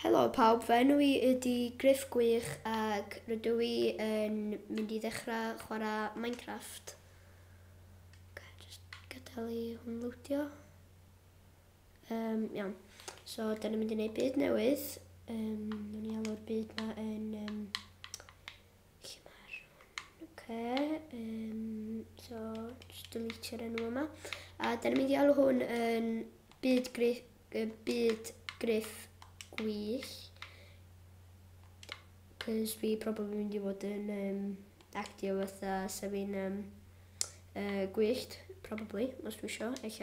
Helo pawb, fy enw i ydi Griff Gwych ac rydw i yn mynd i ddechrau chwarae Minecraft. Ok, just gadael i hwn lwdio. Um, iawn, so dyn ni'n mynd i wneud byd newydd. Um, Nw'n i alw'r byd ma yn um, Lle mae'r hwn? Oce, um, so just delete'r enw yma. A da ni'n mynd i alw hwn yn byd griff, uh, byd griff gwych. Cos fi probably mynd i fod yn um, actio fatha sef fi'n um, uh, gwyllt, probably, os dwi isio, eich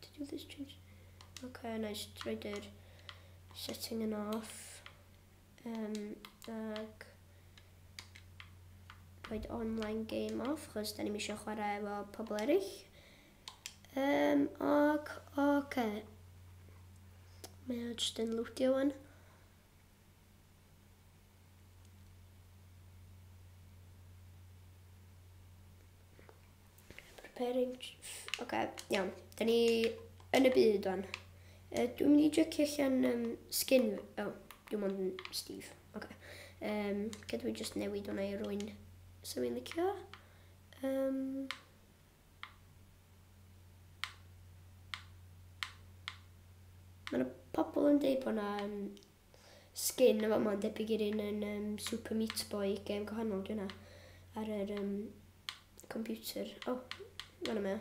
to do this change. Okay, na i droed yr setting yn off. Um, ag rhaid online game off, chos da ni'n misio chwarae efo pobl eraill. Um, ac, oce. Okay. Mae o jyst yn lwtio wan. Preparing... Oce, okay, iawn. Da ni yn y byd o'n. Uh, dwi'n mynd i jycio allan um, skin... O, oh, dwi'n mynd yn Steve. Oce. Okay. Um, Gydw i just newid hwnna i rwy'n sy'n mynd licio. Um, Mae yna pobl yn dweud bod yna um, skin yn fama yn debyg i'r un yn um, Super Meat Boy, gêm gwahanol dwi'n ar yr um, computer. O, oh, fan yma.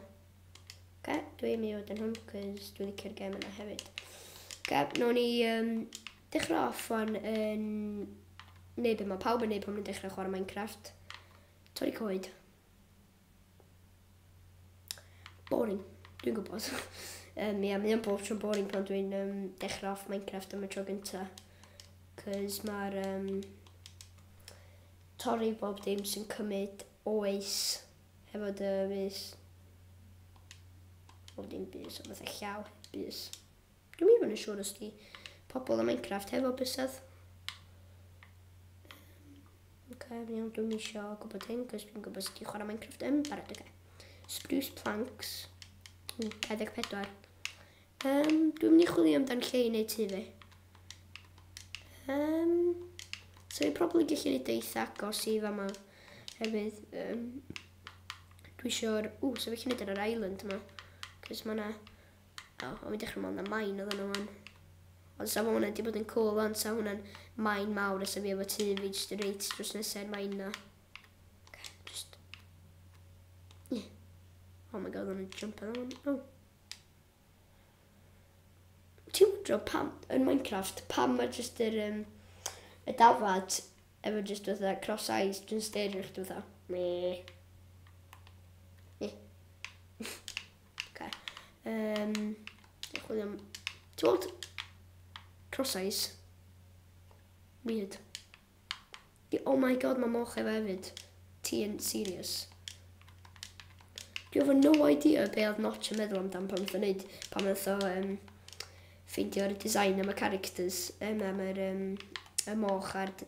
Oce, dwi'n mynd i fod yn hwn, cos dwi'n licio'r gêm yna hefyd. Oce, nawn ni um, dechrau off o'n yn... Neu beth mae pawb yn neud pan nhw'n dechrau chwarae Minecraft. Torri coed. Boring. Dwi'n gwybod. um, ia, mae o'n bob tro'n boring pan dwi'n um, dechrau off Minecraft am y tro gynta. Cys mae'r um, torri bob dim sy'n cymryd oes hefo dy fus. Bob dim bus, o fatha llaw bus. Dwi'n mynd i fod yn siŵr os di pobl y Minecraft hefo bysedd. Ok, fi'n iawn, dwi'n eisiau gwybod hyn, cos fi'n gwybod sut i chwarae Minecraft yn barod, ok. Spruce planks, 24. Um, dwi'n mynd i chwilio amdan lle i wneud tu fi. Um, so i'n probably gallu gwneud eitha agos i fama, hefyd. Um, dwi eisiau'r... Ww, so fe chi'n gwneud ar yr island yma, cos mae yna O, o'n i'n dechrau meddwl na main oedd nhw wan. Ond sa hwnna wedi bod yn cool wan, sa hwnna'n main mawr a sa fi efo tu fi jyst reit drws nesau'r main na. Oh my god, o'n i'n jump ar hwn. Oh. Ti'n wndro pam, yn Minecraft, pam mae jyst yr, um, y dafad efo jyst fatha cross eyes, jyst styr i chdi fatha. Me. Ok. Yym, dwi'n chwilio am... Ti'n gweld crosais? Weird. Di- Oh my god, mae moch efo hefyd. Ti yn serious. Dwi efo no idea be oedd Notch yn meddwl amdan pan nath o wneud, pan nath o um, ffeindio'r design am y characters, um, am yr, um, y moch a'r d-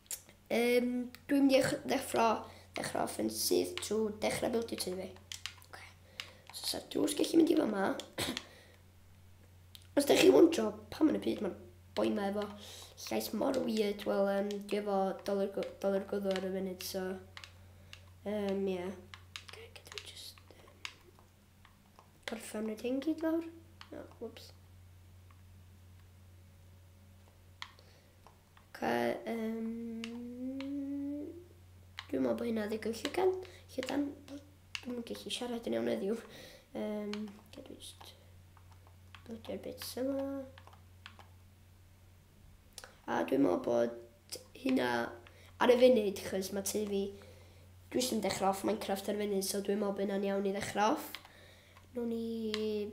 Um, dwi'n mynd i ddeffro, ddeffro offensive trwy dechrau buildio tu fi. Okay. So, sa'r drws gallu mynd i fo yma. Os da chi wondro pam yn y byd mae'r boi ma efo llais mor weird, wel, um, dwi efo dolur gwddw ar y funud, so... Um, yeah. Okay, gyda just... Gorffen y hyn gyd lawr. No, whoops. Ca, um, dwi'n meddwl bod hynna ddigwydd llygan. Llydan, dwi'n gallu siarad yn iawn eddiw. Um, Ga dwi just blodio'r bits yma. A dwi'n meddwl bod hynna ar y funud, chos mae tu fi, dwi sy'n dechrau off Minecraft ar y funud, so dwi'n meddwl bod hynna'n iawn i ddechrau off. Nw'n i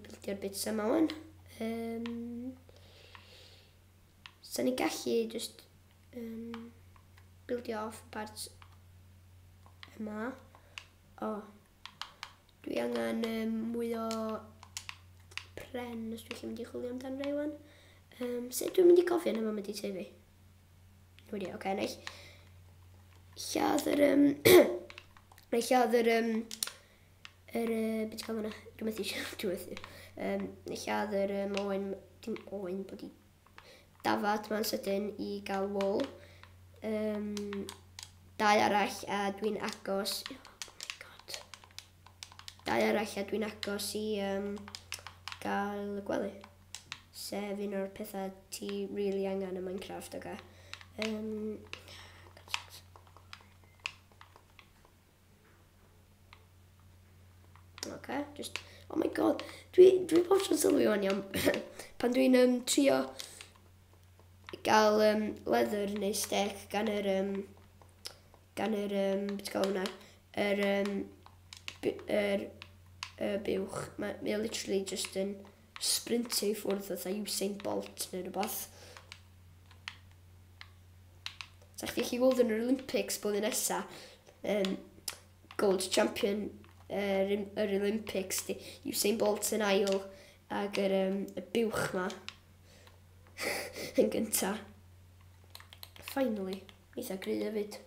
bildio'r bits yma wan. Um, Sa'n ni gallu just um, buildio off y part yma. O, oh. dwi angen um, mwy o pren os dwi'n mynd i chwilio amdan fe iwan. Um, sut dwi'n mynd i gofio yma mynd i tu fi? Wedi, oce, okay, neu. Lladd yr... Um, neu lladd yr... Um, Yr yy bit cam yna, dwi methu siarad dwi methu. Yym lladd yr yym oen, dim oen, bod i dafad ma'n sydyn i gael wol. Um, dau arall a dwi'n agos, oh my god. Dau arall a dwi'n agos i um, gael y gwely. Sef un o'r pethau ti really angen yn Minecraft, oga. Okay? Um, Okay, just... Oh my god. Dwi, dwi bob tro'n sylwi o'n iawn. Pan dwi'n um, trio gael um, leather neu steak gan yr... Um, gan yr... Um, beth gael hwnna? Yr... Um, yr... Uh, buwch. Mae ma literally just yn... sprintio i ffwrdd fatha Usain Bolt neu rhywbeth. Sa chdi chi gweld yn yr Olympics bod yn nesa, um, gold champion yr, yr Olympics, di Usain Bolt yn ail, ag yr, um, y buwch ma yn gynta. Finally, eitha gry hefyd.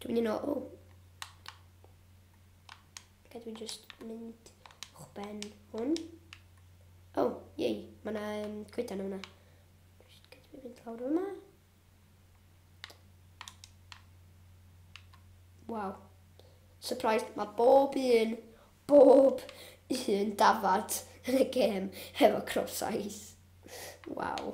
Dwi'n mynd i nôl. Gael dwi'n just mynd o'ch ben hwn. O, oh, iei, mae yna um, coedan yma. Gael dwi'n mynd lawr yma. Waw. Surprise, mae bob un, bob un dafad yn y gêm hefo crop size. Waw.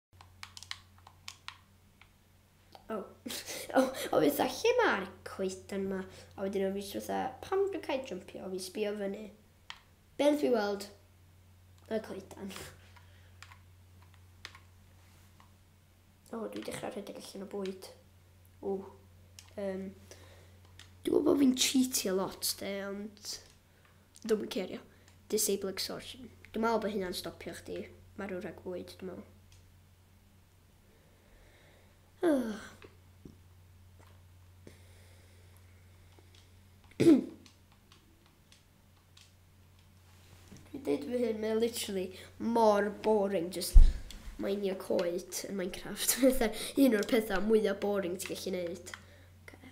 Oh. oh, o fi dda, lle mae'r coetan ma? A wedyn o fi jyst fatha, pam dwi'n cael jumpio? O fi sbio fyny. Ben fi weld y coetan. O, oh, dwi'n dechrau rhedeg allan o bwyd. O, um, dwi'n gwybod bod fi'n cheatio lot, de, ond... Dwi'm yn cerio. Disabling source. Dwi'n meddwl bod hynna'n stopio chdi marw rhag bwyd, dwi'n meddwl. Dwi'n deud fy hyn, mae'n literally mor boring just mainio coed yn Minecraft. Fatha un o'r pethau mwyaf boring ti'n gallu neud. Okay.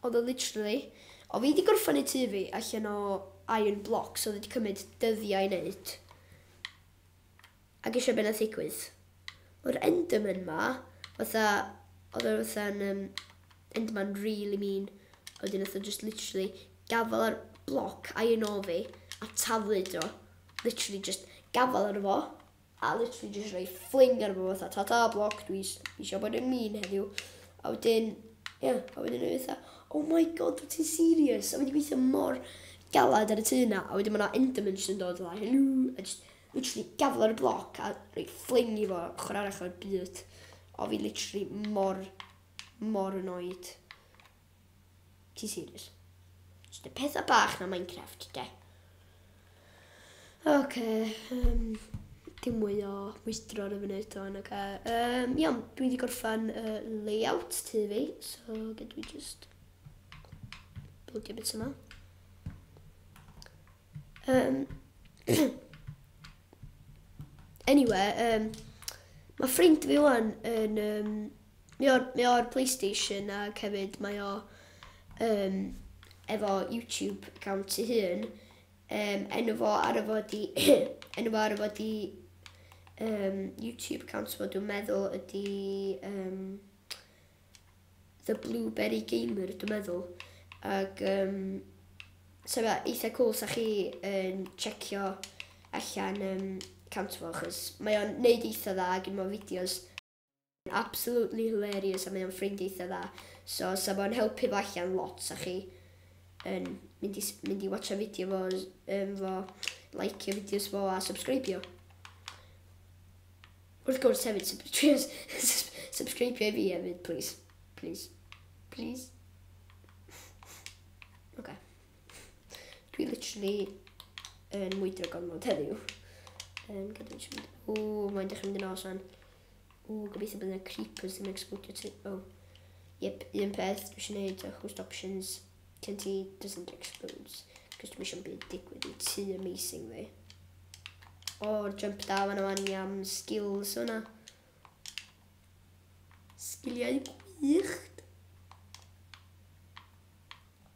Oedd o literally, o fi di gorffan neud tŷ fi allan o iron blocks oedd wedi cymryd dyddiau i neud. Ac eisiau beth nath ddigwydd. Mae'r Enderman ma, fatha, oedd o fatha'n um, Enderman really mean. Oedd yn fatha just literally gafel ar bloc iron o fi a taflu dro. Literally just gafel ar fo. a literally jyst rhoi ffling ar fo fatha tata bloc dwi eisiau bod yn mean heddiw a wedyn ie yeah, a wedyn o'n fatha oh my god wyt ti'n serious a wedi gweithio mor galad ar y tu yna a wedyn mae yna enderman sy'n dod fatha hello a just literally gafel ar y bloc a rhoi ffling i fo ochr arall o'r byd o fi literally mor mor annoyed Ti serious? Just y pethau bach na Minecraft, de. Oce, okay, um, dim mwy o mwystro ar y funud eto yn y ca. Um, iawn, dwi wedi gorffan uh, layout tu fi, so gyd dwi just buildio bits yma. Um, anyway, um, mae ffrind fi wan yn um, Mae o'r, mae o'r Playstation ac hefyd mae o um, efo YouTube account ei hun. Um, enw fo ar y fod i... enw fo ar y fod i um, YouTube account fo dwi'n meddwl ydy... Um, The Blueberry Gamer dwi'n meddwl. Ac um, so fe eitha cool sa chi yn um, checio allan um, account fo achos mae o'n neud eitha dda ac yn fo fideos Absolutely hilarious a mae o'n ffrind eitha dda. So sa fo'n helpu fo allan lot sa chi yn mynd i, mynd i watcha fideo fo, um, fo, like fideos fo a subscribio. Wrth gwrs hefyd, sub subscribio i fi hefyd, please. Please. Please. Okay. Dwi literally yn mwydro gormod heddiw. Um, gyda ni siarad. O, mae'n dechrau mynd yn os fan. O, gobeithio bod yna creepers yn explodio ti. O, yep, un peth dwi eisiau gwneud â host options cyn ti doesn't explodes. Cos dwi eisiau byd digwydd i ti amazing fi. O, jump da fan o'n i am skills o'na. Sgiliau gwych.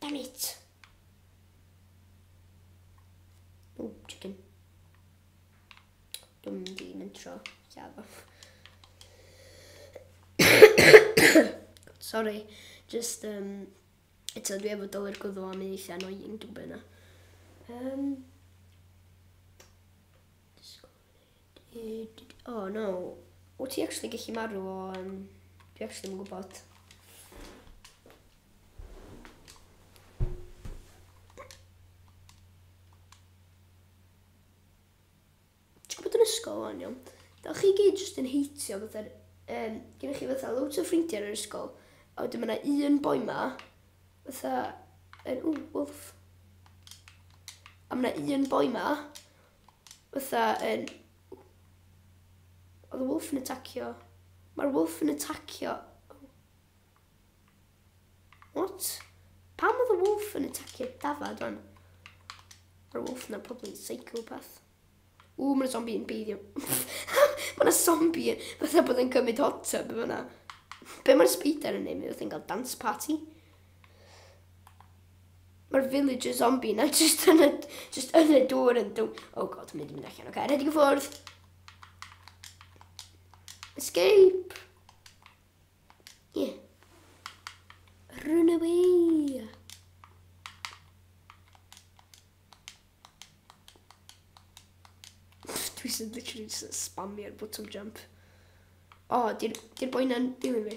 Damn it. Ooh, chicken. Dwm di mynd tro. Safo. Sorry, just um, eto dwi efo dolur gwddw am ei eitha annoying dwi'n byna. Um, O, oh, no. O ti actually gallu marw o... Um, dwi actually yn gwybod. Ti'n gwybod yn ysgol o'n iawn? Da chi gyd jyst yn heitio fatha... Um, Gynnych chi fatha loads o ffrindiau yn yr ysgol. A wedyn mae yna un boi ma. Fatha... Yn, ww, wolf. A mae yna un boi ma. fatha yn... Oedd y wolf yn atacio... Mae'r wolf yn atacio... What? Pam oedd y wolf yn atacio dafad o'n? Mae'r wolf yna probably yn psychopath. Ww, mae'n zombie yn beiddio. mae'n zombie yn... Fatha bod yn cymryd hot tub yma. Be mae'r spider yn neud? Mae'n cael dance party. Mae'r villager zombie na just yn y, just yn y dŵr yn dŵr. Oh god, mynd i mynd allan. Oce, okay, redig y ffwrdd. Escape. Yeah. Run away. Dwi sy'n literally just spamio'r bottom jump. O, oh, di'r boi na'n dilyn fi.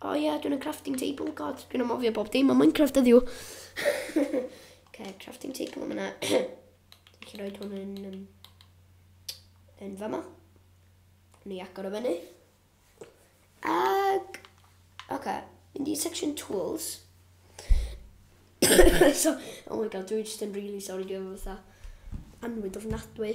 O oh, ie, yeah, dwi'n yn crafting table, god, dwi'n amofio bob dim o Minecraft ydi o. okay, crafting table yma na. dwi'n chi roed hwn yn, um, yn fama. Ni agor o fyny. Ag, oce, okay, mynd i section tools. so, oh my god, dwi'n just yn really sorry, dwi'n fatha anwyd ofnadwy.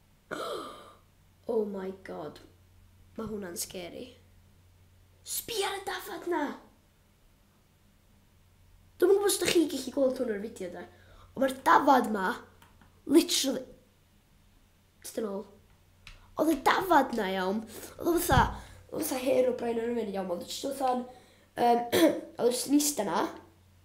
Oh my God, mae hwnna'n scary. Sbia ar y dafad na! Dwi'n gwybod os ydych chi'n gallu gweld hwn o'r fideo da. Ond mae'r dafad ma, literally... Dyn ôl. Oedd y dafad na iawn. Oedd o fatha... Oedd o fatha her o brain o'r ymwneud iawn. Oedd o jyst fatha'n... Um, oedd o jyst yn eista na.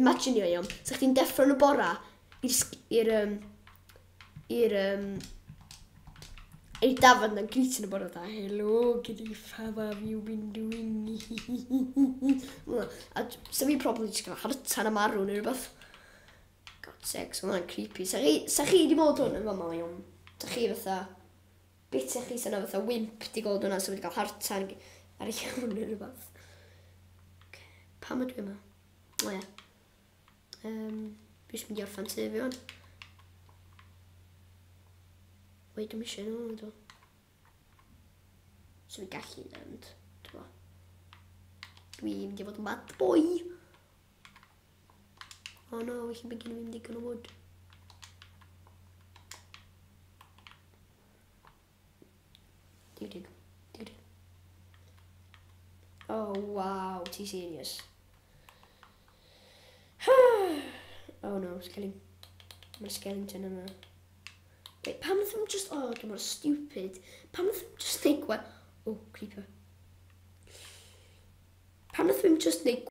Imaginio iawn, 'sa chdi'n deffro yn y bora i'r sg- i'r yym i'r yym i'r dafarn na'n greeting y bora da. Helo, Griff, how have you been doing? Hwnna. A d- 'sa fi probably jyst cael hartan a marw neu rhywbeth. God sakes, ma' hwnna'n creepy. 'Sa chi, 'sa chi wedi bod hwn yn fama iawn? 'Sa chi fatha, Bit chi sy'n fatha wimp di gweld hwnna sy'n wedi cael heart attack ar ei hwn neu rhywbeth. Okay. Pam ydw i yma? O ia. Um, fi eisiau mynd i orffan tu fi hwn. Wei, dwi'n eisiau nhw, dwi'n So fi gallu mynd, dwi'n Dwi'n mynd i fod yn bad boy. Oh no, felly mae gen i ddim digon o wood. Dig, dig, dig, dig. Oh, wow, ti serious. oh no, skelly. Mae'r skeleton yma. Wait, pam ddim just... Oh, dwi'n mor stupid. Pam ddim just neud gwa... Oh, creeper. Pam ddim just neud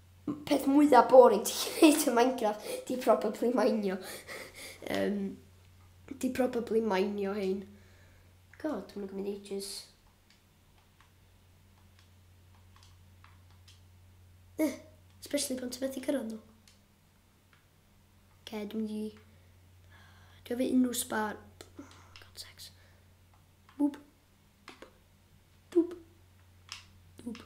peth mwya boring ti gallu neud yn Minecraft 'di probably minio. Yym 'di probably minio hein. God, ma'n gymryd ages. Eh, especially pan ti methu cyrraedd nhw. Okay, dwi'n di... Dwi'n fi unrhyw sbar... God, sex. Boop. Dŵb. Dŵb.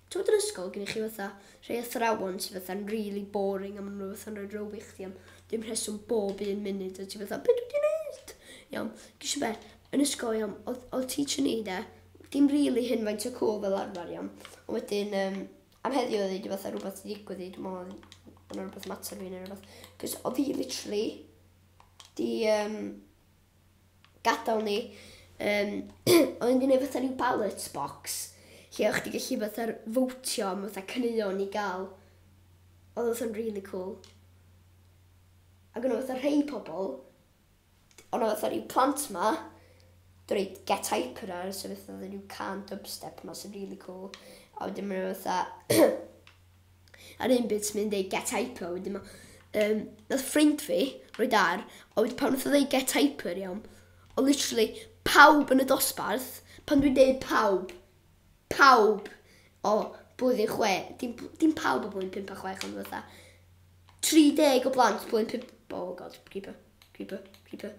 Ti'n bod yn ysgol, gen i chi fatha rhai athrawon sy'n fatha'n really boring a maen nhw fatha'n rhoi row i chdi am dim rheswm bob un munud a ti fatha, beth dwi wedi gwneud? Iawn, gysio be, yn ysgol iawn, oedd, oedd teacher ni de, dim really hyn faint o cool fel arfer iawn, ond wedyn um, am heddiw oedd wedi fatha rhywbeth i ddigwydd i, dwi'n meddwl oedd yna rhywbeth mater fi neu rhywbeth, cos oedd fi literally 'di yym gadal ni yym o'n i 'di neud fatha ryw ballot box lle o' chdi gellu fatha r- fowtio am fatha caneuon i ga'l odd o fatha'n rili cŵl. Ag o' 'na fatha rhei pobol d- o' 'na fatha ryw plant 'ma do' rei get hyper ar so fatha odda n'w cân dubstep 'ma sy'n rili cŵl a wedyn ma' 'na fatha A'r un bryd mynd ei get hyper wedyn ma' yym nath ffrind fi roid ar a wed- pan nath o ddeu get hyper iawn o' literally pawb yn y dosbarth pan dwi'n deud pawb pawb o blwyddyn chwe dim p- dim pawb o blwyddyn pump a chwech ond fatha 30 o blant blwyddyn pump oh god creeper creeper creeper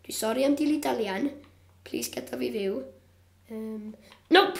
dwi sori am dilly-dallian plîs gada fi fyw. Yym nope!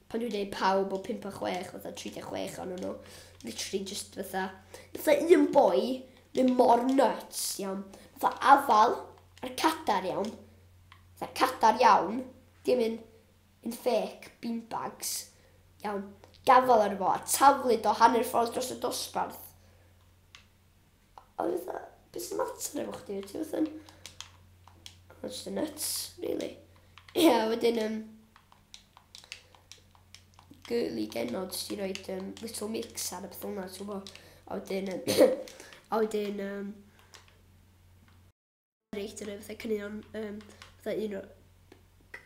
pan dwi'n deud pawb o 5 a 6 fatha 36 ohonon nhw literally jyst fatha fatha un boi mynd mor nyts iawn fatha afal ar cadar iawn fatha cadar iawn dim un un fake beanbags iawn gafal arno fo a taflu do hanner ffordd dros y dosbarth a o'n i fatha be' sy'n mater efo chdi wyt ti fatha'n ma' jyst yn nyts rili. Ie a wedyn yym girly genod sy 'di roid um, little mix ar y peth hwnna, ti'n gwybod? A wedyn, um, a wedyn, um, reit yn y fatha cynnion, um, fatha un o,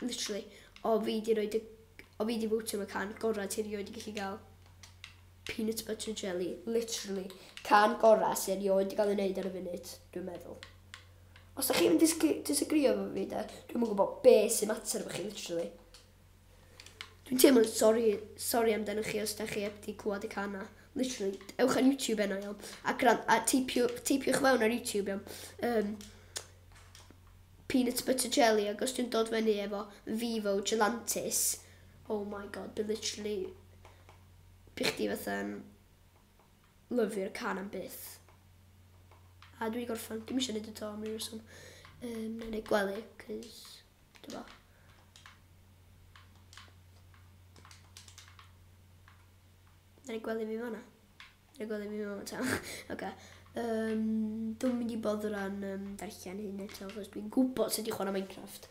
literally, o fi di roed y, o fi di fwtio am y can gorau ti rioed i gallu gael peanut butter jelly, literally, can gorau sy'n rioed i gael ei wneud ar y funud, dwi'n meddwl. Os da chi'n disagrio efo fi de, dwi'n mwyn gwybod be sy'n mater efo chi, literally. Dwi'n teimlo'n sori, sori amdano chi os da chi heb di clywed y can na. Literally, ewch ar YouTube enna iawn. A, gran, a teipio, teipiwch fewn ar YouTube iawn. Um, peanut butter jelly, ac os dwi'n dod fyny efo Vivo Gelantis, oh my god, bydd literally, bych di fatha, Lyfio'r can am byth. A dwi wedi gorffan, dim eisiau gwneud y to am rhyw reswm. Um, na neud gwely, cys, dy fo. Na neud gwely fi fanna. Na neud gwely fi fanna ta. Oce. Um, dwi'n mynd i bodd rhan um, darllen hyn eto, achos dwi'n gwybod sut i chwarae Minecraft.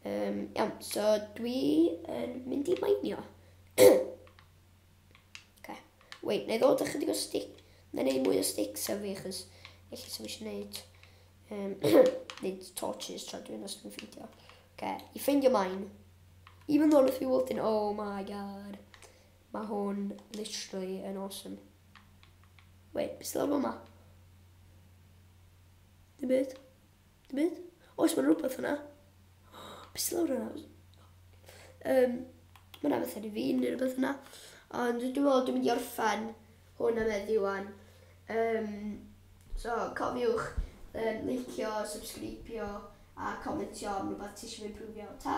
Um, iawn, so dwi yn mynd i mainio. Oce. Wait, na i ddod â chydig o stick. Na i neud mwy o sticks ar fi, achos eich sy'n eisiau neud... Um, neud torches tra dwi'n os dwi'n ffeindio. Oce, i ffeindio main. Even though nath fi weld yn, oh my god. Mae hwn literally yn awesome. Wait, beth sydd lawr yma? Dim byd. Dim byd? Oes, mae'n rhywbeth yna. Be sy'n lawr yna? Um, mae yna bethau i fi neu rhywbeth yna. Ond dwi'n meddwl dwi'n mynd i orffen hwn am eddi wan. Um, so, cofiwch um, licio, subscribio a comentio am rhywbeth ti eisiau fi prwfio. Ta!